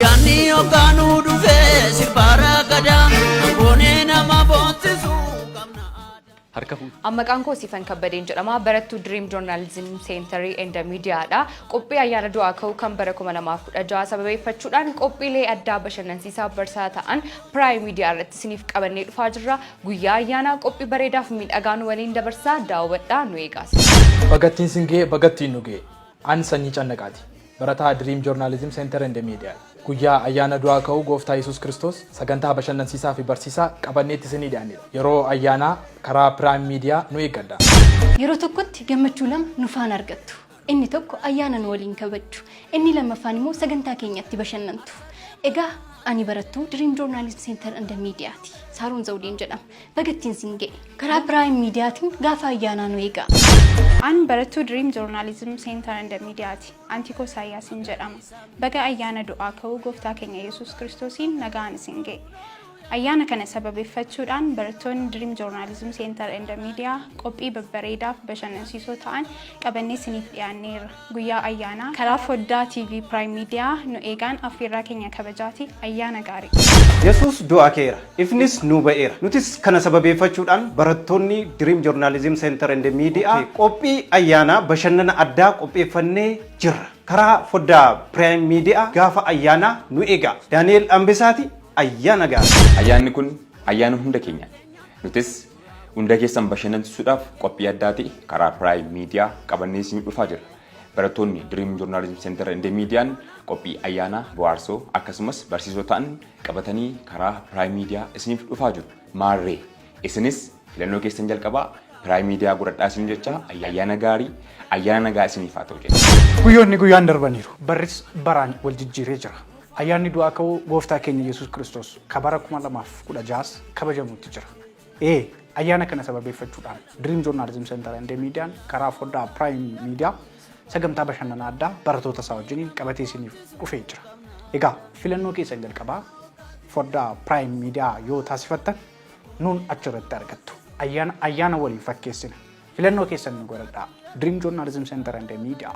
Yaanni hoggaanuu dhufee sirbaara gadaa goonee nama boontesuu qabna aadaa. Harka fuudhu. An maqaan koo Siifan Kabbadeen jedhama. Barattuu Dream Journalism Center and Media dha. Qophii ayyaana du'aa ka'uu kan bara 2016 sababeeffachuudhaan qophiilee addaa bashannansiisaa barsaa ta'an Prime Media irratti isiniif qabannee dhufaa jirra. Guyyaa ayyaanaa qophii bareedaaf miidhagaa nu waliin dabarsaa daawwadhaa nu eegaas. Bagattiin singee bagattiin nugee. An Sanyii Cannaqaati. Barataa Dream Journalism Center and Media. Guyyaa Ayyaana Du'aa Ka'uu Gooftaa Yesuus Kiristoos sagantaa bashannansiisaa fi barsiisaa qabanneetti isinii dhiyaannedha. Yeroo ayyaanaa karaa Prime Media nu eeggadhaa. Yeroo tokkotti gammachuu lama nu faana argattu. Inni tokko ayyaana nu waliin kabajju. Inni lammaffaan immoo sagantaa keenyatti bashannantu. Egaa ani barattuu Dream Journalism Center and Media ti. Saaroon Zawudeen jedhama. Baga ittiin siin ga'e. Karaa Prime Mediatiin gaafa ayyaanaa nu eegaa. An barattuu Dream Journalism Center and Media ti. Antiikoo Isaayyaasiin jedhama. Baga ayyaana du'aa ka'uu gooftaa keenya Yesuus Kiristoosiin nagaan isin ga'e. Ayyaana kana sababeeffachuudhaan barattoonni Dream Journalism Center and Media qophii babbareedaaf bashannansiisoo ta'an qabannee isiniif dhiyaanneerra. Guyyaa Ayyaanaa karaa foddaa TV Prime Media nu eegaan affeerraa keenya kabajaati. Ayyaana gaarii! Yesuus du'aa ka'eera, ifnis nuu ba'eera. Nutis kana sababeeffachuudhaan barattoonni Dream Journalism Center and Media qophii ayyaanaa bashannana addaa qopheeffannee jirra. Karaa foddaa Prime Media gaafa ayyaanaa nu eegaa. Daani'eel Ambesaati, Ayyaana gaarii! Ayyaanni kun ayyaana hunda keenyaati. Nutis. Hunda keessan bashannansiisuudhaaf qophii addaati karaa Prime Media qabannee isin dhufaa jira. Barattoonni Dream Journalism Center and Median qophii ayyaanaa bohaarsoo akkasumas barsiisoo ta'an qabatanii karaa Prime Media isiniif dhufaa jiru. Maarree isinis filannoo keessan jalqabaa Prime Media godhadhaa isin jechaa ayyaana gaarii ayyaana nagaa isiniif haa ta'u jenna. Guyyoonni guyyaan darbaniiru. Barris baraan wal jijjiiree jira. Ayyaanni du'aa ka'uu gooftaa keenya Yesuus Kiristoos ka bara 2016s kabajamuutti jira. e Ayyaana kana sababeeffachuudhaan Dream Journalism Center and Median karaa foddaa Prime Media sagantaa bashannanaa addaa baratoota isaa wajjiniin qabatee isiniif dhufee jira. Egaa filannoo keessan jalqabaa foddaa Prime Media yoo taasifattan nuun achirratti argattu. Ayyaana ayyaana waliin fakkeessina. Filannoo keessan nu godhadhaa. Dream Journalism Center and Media